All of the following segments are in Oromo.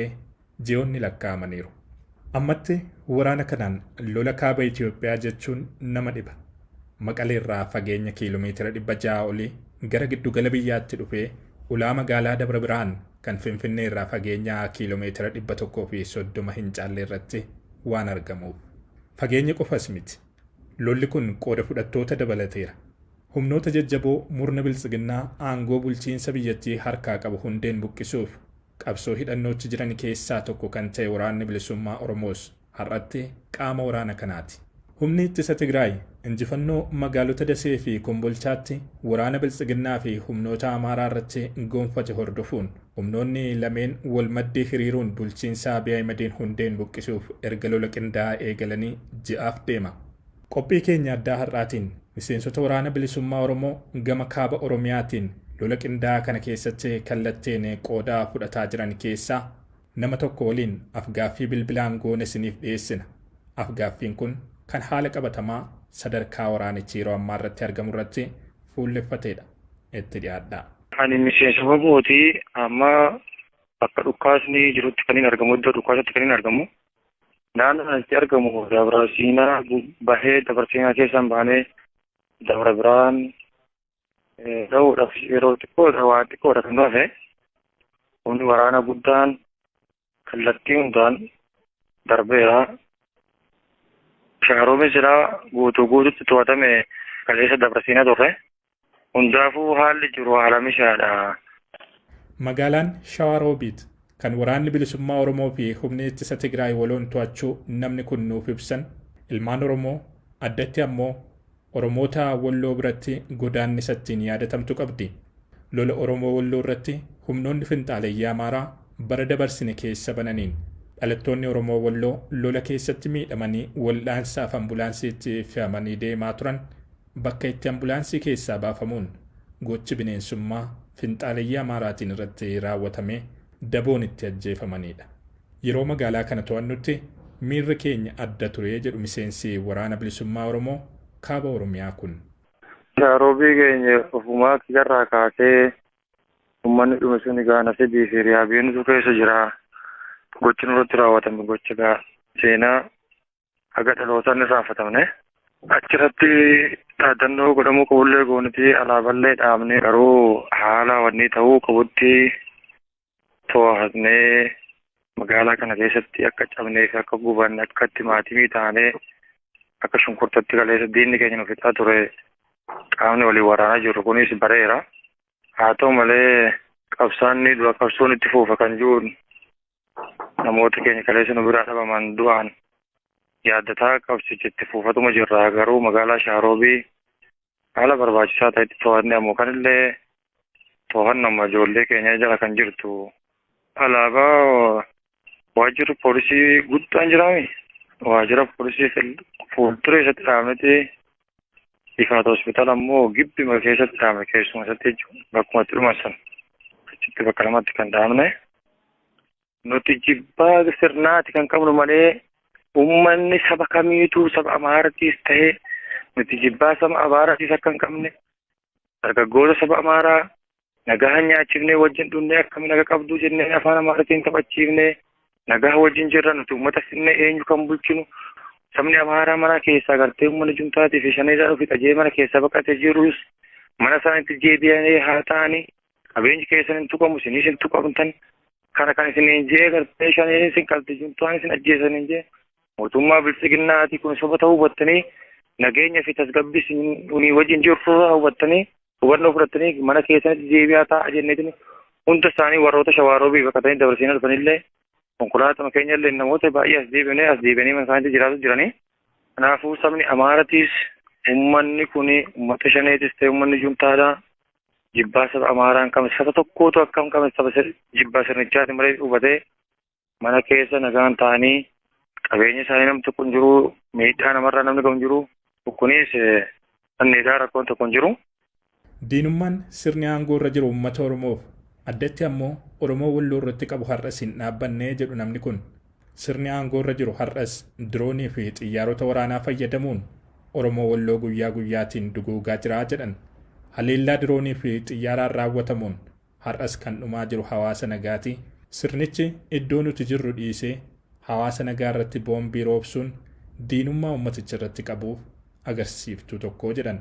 ta'ee ji'oonni lakkaa'amaniiru. Ammatti waraana kanaan lola kaaba Itoophiyaa jechuun nama dhiba. Maqaleerraa fageenya kiilomeetira 600 olii gara giddugala biyyaatti dhufee ulaa magaalaa Dabra Birhaan kan Finfinneerraa fageenya kiilomeetira 130 hin caallerratti waan argamuuf. Fageenya qofas miti. Lolli kun qooda fudhattoota dabalateera. Humnoota jajjaboo murna Biltsiginnaa aangoo bulchiinsa biyyattii harkaa qabu hundeen buqqisuuf Qabsoo hidhannootti jiran keessaa tokko kan ta'e Waraanni Bilisummaa Oromoos har'atti qaama waraana kanaati. Humni Ittisa Tigraay injifannoo magaalota Dasee fi Kombolchaatti waraana Biltsiginnaa fi humnoota Amaaraa irratti gonfate hordofuun humnoonni lameen wal maddii hiriiruun bulchiinsa Abiy Ahimediin hundeen buqqisuuf erga lola qindaa'aa eegalanii ji'aaf deema. Qophii keenya addaa har'aatiin miseensota Waraana Bilisummaa Oromoo gama Kaaba Oromiyaatiin lola qindaa'aa kana keessatti kallattiin qooda fudhataa jiran keessaa nama tokko waliin af-gaaffii bilbilaan goone isiniif dhiyeessina. Af-gaaffiin kun kan haala qabatamaa sadarkaa waraanichi yeroo ammaa irratti argamu irratti fuulleffateedha. Itti dhiyaadhaa. Ani miseensa wbo ti. Amma bakka dhukaasni jirutti kanin argamu, iddoo dhukaasatti kanin argamu. Naannoo kanatti argamu dabra siinaa bahee dabra siinaa keessaan baanee dabra biraan ta'uudhaaf yeroo xiqqoodha waa xiqqoodha kan hafe humni waraana guddaan kallattii hundaan darbeera. Shaaroomi silaa guutuu guututti to'atame kaleessa dabra siinaa turre. Hundaafuu haalli jiru haala mishaadha. Magaalaan Shawaa Roobiit kan Waraanni Bilisummaa Oromoo fi Humni Ittisa Tigraay waloon to'achuu namni kun nuuf ibsan, ilmaan Oromoo, addatti ammoo Oromoota Walloo biratti godaannisa ittiin yaadatamtu qabdi. Lola Oromoo Walloo irratti humnoonni finxaaleyyii Amaaraa bara dabarsine keessa bananiin dhalattoonni Oromoo Walloo lola keessatti miidhamanii waldhaansaaf ambulaansiitti fe'amanii deemaa turan bakka itti ambulaansii keessaa baafamuun gochi bineensummaa finxaaleyyii Amaaraatiin irratti raawwatamee daboon itti ajjeefamaniidha. Yeroo magaalaa kana to'annutti miirri keenya adda ture jedhu miseensi Waraana Bilisummaa Oromoo Kaaba Oromiyaa kun. Yaa Roobii keenya ofumaa kiyyarraa kaasee ummanni dhume suni gaa nasibii fi riyaa beenutu keessa jira. Gochi nurratti raawwatame gocha gaa seenaa haga dhalootaan irraanfatamne. Achirratti dhaadannoo godhamuu qabullee gooniti alaaballee dhaabnee garuu haala wanni ta'uu qabutti to'atnee magaalaa kana keessatti akka cabnee fi akka gubanne akka itti maatimii taanee akka shunkurtatti galeessa diinni keenya nu fixaa ture qaamni waliin waraanaa jiru kunis bareera. Haa ta'u malee qabsaanni dura qabsoon itti fuufa kan jiruun namoota keenya kaleessa nu biraa dhabaman du'aan yaaddataa qabsichitti fuufatuma jirra garuu magaalaa Shaaroobii haala barbaachisaa ta'etti to'anne ammoo kanillee to'annoma ijoollee keenya jala kan jirtu alaabaa waajjirri poolisii guddaan jiraami waajjira poolisii fuuldura isatti dhaabneti Ifaata hospitaala immoo gibbima keessatti dhaabne keessuma isatti jechuudha. Bakkuma itti dhuman sana achitti bakka lamatti kan dhaabne. Nuti jibbaa sirnaati kan qabnu malee uummanni saba kamiituu saba Amaaratiis ta'ee nuti jibbaa saba Amaaratiis akka hin qabne dargaggoota saba Amaaraa nagaa nyaachifnee wajjin dhunnee akkamiin naga qabduu jennee afaan Amaaratiin taphachiifnee nagaa wajjin jirra nuti uummata finnee eenyu kan bulchinu sabni Amaaraa mana keessaa gartee uummanni jumtaatii fi shaneedhaan ofi xajee mana keessaa baqatee jirus mana isaaniitti deebi'anii haa ta'anii qabeenyi keessan hin tuqamu isinis hin tuqamtan kana kan isin hin jee gartee shaneen isin qalti jumtaan isin ajjeesan hin jee Mootummaa biltsiginnaa ati kun soba ta'uu hubattanii nageenya fi tasgabbii isinii wajjin jiru furraa hubattanii hubannoo fudhattanii mana keessanitti deebi'aa taa'aa jenneetiin hunda isaanii warroota shawaaroobii baqatanii dabarsiin arfanillee konkolaatama keenyallee namoota baay'ee as deebinee as deebi'anii mana isaaniitti jiraatu jiranii. Kanaafuu sabni Amaaratiis ummanni kun ummata shaneetis ta'e ummanni juntaadha. Jibbaa saba Amaaraan qabne saba tokkootu akkam qabne saba jibbaa sirnichaati malee hubatee mana keessa nagaan ta'anii qabeenya isaanii namni tokko hin jiru miidhaa namarraa namni gahu hin jiru kunis anneegaa rakkoon tokko hin jiru. Diinummaan sirni aangoo irra jiru uummata Oromoof addatti ammoo Oromoo Walloo irratti qabu har'as hin dhaabbanne jedhu namni kun. Sirni aangoo irra jiru har'as diroonii fi xiyyaarota waraanaa fayyadamuun Oromoo Walloo guyyaa guyyaatiin duguugaa jira jedhan. Haleellaa diroonii fi xiyyaaraan raawwatamuun Har'as kan dhumaa jiru hawaasa nagaati. Sirnichi iddoo nuti jirru dhiisee hawaasa nagaa irratti boombii roobsuun diinummaa uummaticha irratti qabu agarsiiftuu tokko jedhan.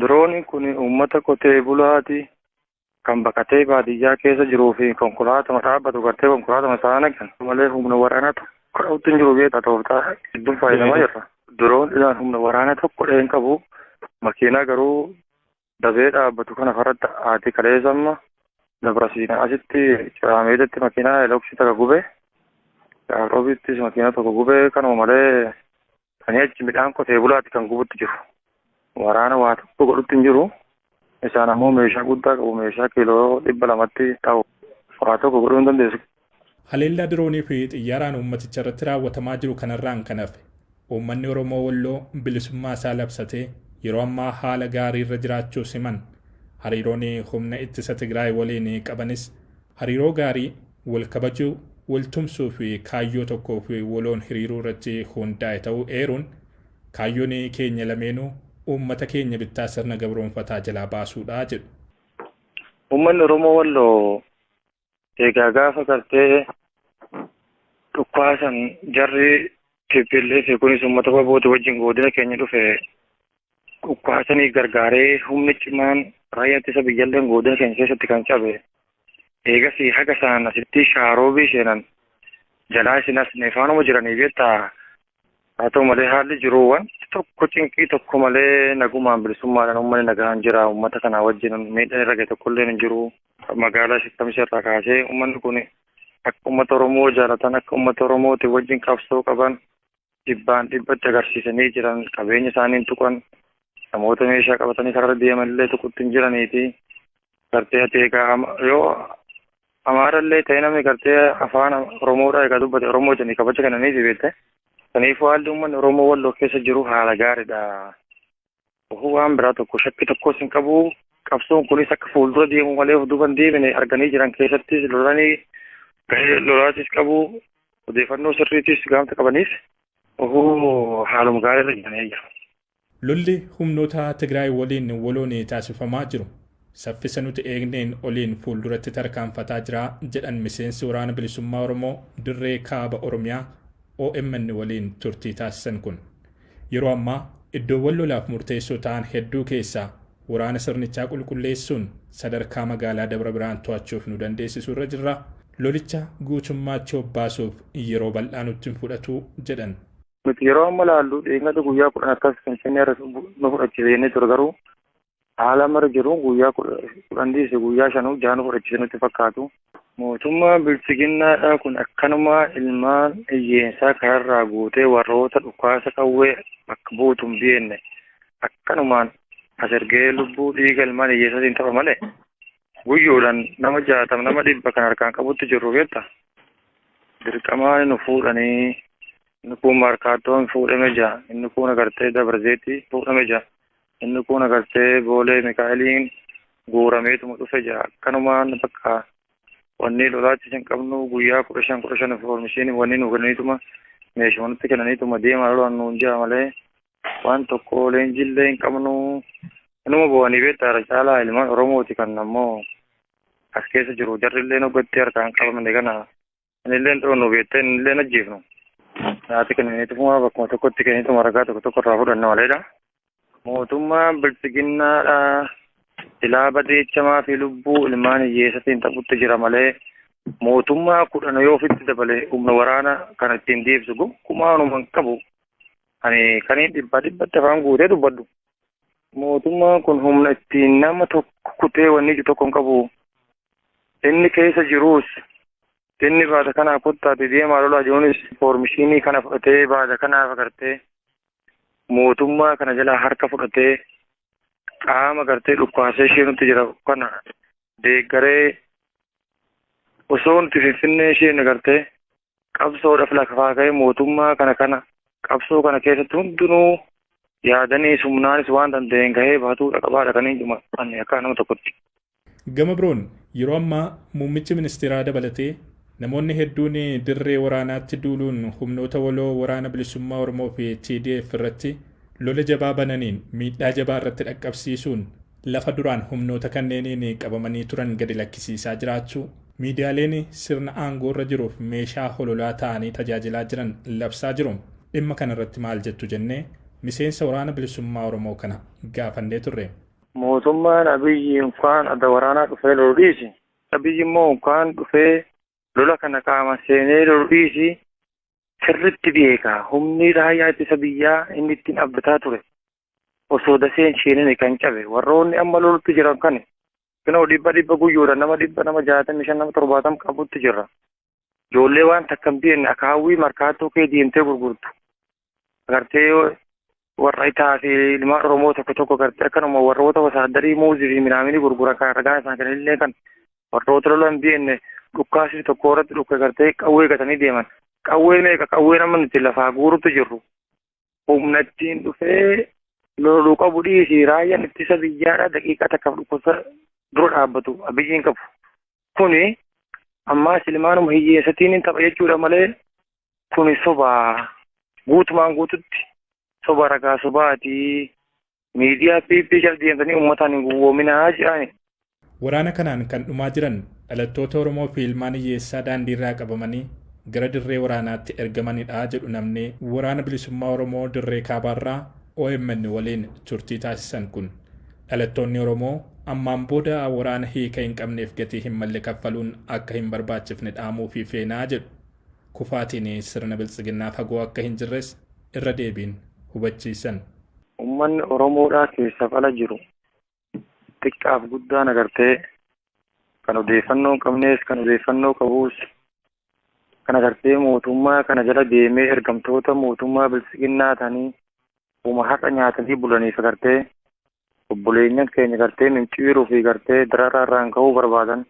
Dirooniin kun uummata qotee bulaati. Kan baqatee baadiyyaa keessa jiruu fi konkolaatuma dhaabbatu gartee konkolaatuma isaa naqan malee humna waraanaa tokko dha'utti hin jiru beektaa tooftaa hedduun fayyadamaa jirra. Dirooniidhaan humna waraanaa tokko dha'ee hin qabu. Makiinaa garuu dafee dhaabbatu kana faratti haati kaleessa amma dabrasiina asitti ciraameedatti makiinaa eloksii takka gube roobiittis makiinaa tokko gube kanuma malee kan achi midhaan qotee bulaatti kan gubutti jiru waraana waa tokko godhutti hin jiru isaan ammoo meeshaa guddaa qabu meeshaa kiiloo dhibba lamatti ta'u waa tokko godhuu hin dandeessu Haleellaa diroonii fi xiyyaaraan uummaticha irratti raawwatamaa jiru kanarraan kan hafe uummanni Oromoo Walloo bilisummaa isaa labsatee yeroo ammaa haala gaarii irra jiraachuus himan. Hariiroon humna ittisa Tigraay waliin qabanis hariiroo gaarii, wal kabajuu, wal tumsuu fi kaayyoo tokkoof waloon hiriiruu irratti hundaa'e ta'uu eeruun, kaayyoon keenya lameenuu uummata keenya bittaa sirna gabroomfataa jalaa baasuudha jedhu. Uummanni Oromoo Walloo Egaa gaafa gartee dhukkaasan jarri TPLF kunis uummata baboota wajjin godina keenya dhufe dhukkaasanii gargaaree humni cimaan raayyaa ittisa biyyaalleen godina keenya keessatti kan cabe eegasii haga saan asitti shaaroobii seenan jalaa isin asne faanuma jiranii beektaa Haa ta'u malee haalli jiru wanti tokko cinqii tokko malee nagumaan bilisummaadhaan uummanni nagaan jira. Uummata kanaa wajjin miidhaan irra gahe tokko illee hin jiru. Magaalaa Shakkamsha irraa kaasee uummanni kun akka uummata Oromoo jaalatan akka uummata Oromootiin wajjin qabsoo qaban dhibbaan dhibbatti agarsiisanii jiran qabeenya isaanii hin tuqan namoota meeshaa qabatanii karaa deeman illee tuqutti hin jiraniiti. Gartee ati egaa yoo Amaarallee ta'ee namni gartee afaan Oromoodhaa egaa dubbate Oromoo jedhanii kabaja kennaniifi beekte. Kanaafuu haalli uummanni Oromoo Walloo keessa jiru haala gaariidha. Ofuu waan biraa tokko shakkii tokkos hin qabu. Qabsoon kunis akka fuuldura deemu malee of duuba hin deebine arganii jiran keessattis lolanii gahee lolaatis qabu odeeffannoo sirriitis gaamta qabaniif ofuu haaluma gaariirra jiranii jiru. Lolli humnoota Tigraay waliin waloon taasifamaa jiru saffisa nuti eegneen oliin fuulduratti tarkaanfataa jira jedhan miseensi Waraana Bilisummaa Oromoo dirree Kaaba Oromiyaa omn waliin turtii taasisan kun. Yeroo ammaa iddoowwan lolaaf murteessoo ta'an hedduu keessaa waraana sirnichaa qulqulleessuun sadarkaa magaalaa Dabra Birhaan to'achuuf nu dandeessisu irra jirra. Lolicha guutummaatti obbaasuuf yeroo bal'aa nutti hin fudhatu jedhan. Nuti yeroo amma laallu dheengadda guyyaa kudhan akkas finfinnee irra nu fudhachiise jennee ture garuu haala amma irra jiru guyyaa kudhan dhiise guyyaa shanuu jaha nu fudhachiise nutti fakkaatu. Mootummaan bilchiginnaadhaa kun akkanumaa ilmaan hiyyeensaa kanarraa guutee warroota dhukaasa qawwee bakka buutu hin beekne akkanumaan as ergee lubbuu dhiiga ilmaan hiyyeessaatiin tapha malee guyyoodhaan nama jaatama nama dhibba kan harkaan qabutti jirru beekta. Dirqamaan nu fuudhanii inni kuun maarkaattoon fuudhame jira inni kuun agartee dabarzeetti fuudhame jira inni kuun agartee boolee mikaa'eliin guurameetuma dhufe jira akkanumaan bakka wanni lolaatti hin qabnu guyyaa kudha shan kudha shan foormishiin wanni nu kennaniituma meeshumanatti kennaniituma deemaa lolaan nuun jira malee waan tokko leenjiillee hin qabnu inuma bu'anii beektaa irra caalaa ilmaan oromooti kan ammoo as keessa jiru jarrillee hoggatti harkaan qabamne kana anillee dhoonu beektee anillee ajjeefnu naati kennineetuma bakkuma tokkotti kenniituma ragaa tokko tokko irraa fudhanna maleedha. Mootummaan bilchiginnaadha silaa badeechamaa fi lubbuu ilmaan hiyyeessatiin taphutti jira malee mootummaa kudhan yoo ofitti dabale humna waraana kan ittiin deebisu gonkumaa waanuma hin qabu. Ani kaniin dhibbaa dhibbatti afaan guutee dubbadhu. Mootummaan kun humna ittiin nama tokko kutee wanni iju tokko hin qabu. Inni keessa jiruus inni baata kanaa kottaati deemaa lolaa jiruunis foormishiinii kana fudhatee baata kanaaf agartee mootummaa kana jalaa harka fudhatee qaama gartee dhukkaasee ishee nutti jira kana deeggaree osoo nuti finfinnee isheen agartee qabsoodhaaf lafaa ka'ee mootummaa kana kana qabsoo kana keessatti hundinuu yaadanii sumnaanis waan danda'een gahee bahatuudha qabaadha kan hin dhumanne akka nama tokkotti. Gama biroon yeroo ammaa muummichi ministeeraa dabalatee namoonni hedduun dirree waraanaatti duuluun humnoota waloo waraana bilisummaa Oromoo fi TDF irratti lola jabaa bananiin miidhaa jabaa irratti dhaqqabsiisuun lafa duraan humnoota kanneeniin qabamanii turan gadi lakkisiisaa jiraachuu, miidiyaaleen sirna aangoorra jiruuf meeshaa hololaa ta'anii tajaajilaa jiran labsaa jiru. Dhimma kanarratti maal jettu jennee miseensa Waraana Bilisummaa Oromoo kana gaafannee turre. Mootummaan Abiyyi unkaan adda waraanaa dhufee lolu dhiisi, Abiyyi immoo unkaan dhufee lola kana qaaman seenee lolu dhiisi sirriitti beeka. Humni Raayyaa Ittisa Biyyaa inni ittiin abdataa ture osoo dasee hin sheenine kan cabe warroonni amma lolutti jiran kan kunoo dhibba dhibba guyyoodha nama dhibba nama jaatamii shan nama torbaatam qabutti jirra. Ijoollee waan takka hin beekne akka hawwii markaattuu kee deemtee gurgurtu. Agartee warra itaa fi ilmaan Oromoo tokko tokko agartee akkanuma warroota wasaaddarii muuzii fi minaaminii gurguran kan ragaa isaan kan illee kan warroota lola hin beekne dhukkaasii tokko irratti dhukka agartee qawwee gatanii deeman. Qawwee meeqa qawwee nama nuti lafaa guurutti jirru. humnattiin dhufee loluu qabu dhiisii raayyaan ittisa biyyaadha daqiiqaa takkaaf dhukkubsa dura dhaabbatu abiyyiin qabu. Kuni ammaa silmaanuma hiyyeessatiin tapha jechuudha malee kuni sobaa guutumaan guututti soba ragaa sobaatii Miidiyaa PP jala deemtanii uummataan hin gowwoominaa jedhani. Waraana kanaan kan dhumaa jiran dhalattoota Oromoo fi ilmaan hiyyeessaa daandiirraa qabamanii gara dirree waraanaatti ergamanidha jedhu namni Waraana Bilisummaa Oromoo Dirree Kaabaarraa omn waliin turtii taasisan kun. Dhalattoonni Oromoo ammaan booda waraana hiika hin qabneef gatii hin malle kaffaluun akka hin barbaachifne dhaamuufii feena jedhu. Kufaatiin sirna Biltsiginnaa fagoo akka hin jirres irra deebiin hubachiisan. Ummanni Oromoodhaa keessaf ala jiru xiqqaaf guddaan agartee kan odeeffannoo hin qabnees kan odeeffannoo qabuus kan agartee mootummaa kana jala deemee ergamtoota mootummaa biltsiginnaa ta'anii uma har'a nyaatanii bulaniif agartee obboleenyan keenya agartee minciiruu fi agartee dararaa irraan ga'uu barbaadan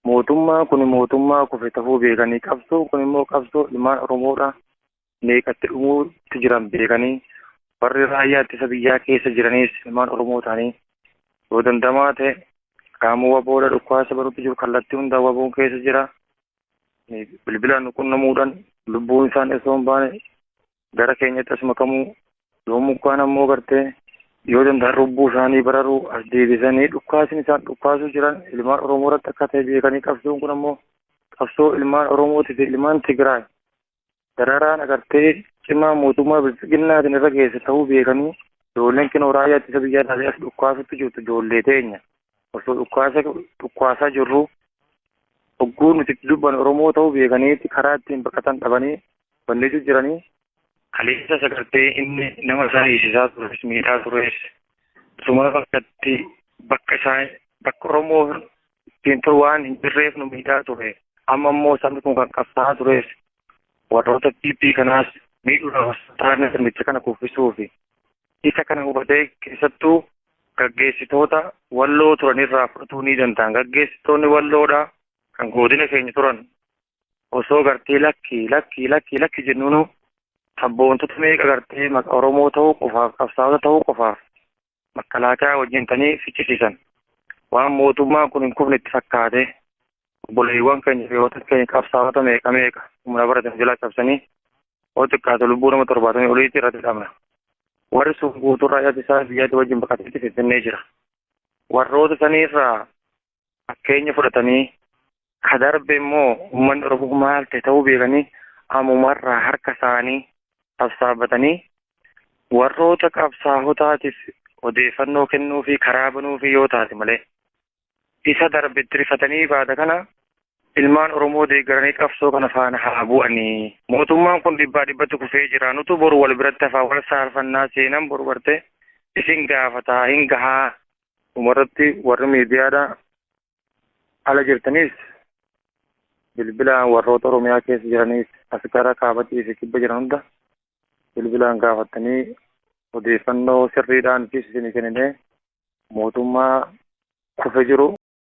mootummaa kun mootummaa kufe ta'uu beekanii qabsoo kun immoo qabsoo ilmaan Oromoodhaa meeqatti dhumuutti jiran beekanii warri raayyaa ittisa biyyaa keessa jiraniis ilmaan Oromoo ta'anii yoo dandamaa ta'e qaama waboodha dhukkaasa barutti jiru kallattii hundaa waboon keessa jira. Bilbilaan nu qunnamuudhaan lubbuun isaan osoo hin baane gara keenyatti as makamuu yoo mukaan ammoo gartee yoo danda'an lubbuu isaanii bararuu as deebisanii dhukkaasni isaan dhukkaasuu jiran ilmaan Oromoo irratti akka ta'e beekanii qabsoon kun ammoo qabsoo ilmaan Oromootii fi ilmaan Tigraay dararaan agartee cimaa mootummaa bilxiginnaatiin irra geesse ta'uu beekanii ijoolleen kinoo raayyaa ittisa biyyaa taatee as dhukkaasutti jirtu ijoollee teenya osoo dhukkaasa dhukkaasaa jirru hogguu nuti itti dubban oromoo ta'uu beekaniitti karaa ittiin baqatan dhabanii bannee jiranii kaleessas agartee inni nama isaa hiisisaa tures miidhaa tures suma bakkatti bakka isaa bakka oromoo ittiin ture waan hin jirreef nu miidhaa ture. Amma immoo sabni kun kan qabsaa'aa tureef warroota PP kanaas miidhuudhaaf taa'anii sirnicha kana kuffisuufi. Isa kana hubatee keessattuu gaggeessitoota walloo turan irraa fudhatuu ni danda'an. Gaggeessitoonni walloodha kan godina keenya turan osoo gartee lakki lakki lakki lakki jennuunu sabboontota meeqa gartee maqa Oromoo ta'uu qofaaf qabsaa'ota ta'uu qofaaf makalaakaa wajjin tanii fichisiisan waan mootummaan kun hin kufne itti fakkaate obboleewwan keenya fi hoota keenya qabsaa'ota meeqa meeqa humna baratan jalaa cabsanii hoo xiqqaate lubbuu nama torbaatanii oliitti irratti dhabna warri sun guutuu raayyaa isaa biyyaatti wajjin baqateetti finfinnee jira warroota saniirraa fakkeenya fudhatanii ka darbe immoo uummanni Oromoo maal ta'e ta'uu beekanii ammumarraa harka isaanii sassaabatanii warroota qabsaahotaatiif odeeffannoo kennuu fi karaa banuu fi yoo taate malee isa darbe itti rifatanii baada kana ilmaan Oromoo deeggaranii qabsoo kana faana haa bu'anii. Mootummaan kun dhibbaa dhibbatti kufee jira. Nutu boru wal biratti hafaa wal saalfannaa seenan boru bartee isin gaafataa hin gahaa Dhumarratti warri miidiyaadha ala jirtaniis bilbilaan warroota Oromiyaa keessa jiraniis as gara kaabatii fi kibba jiran hunda bilbilaan gaafattanii odeeffannoo sirriidhaan fi isinii kenninee mootummaa kufe jiru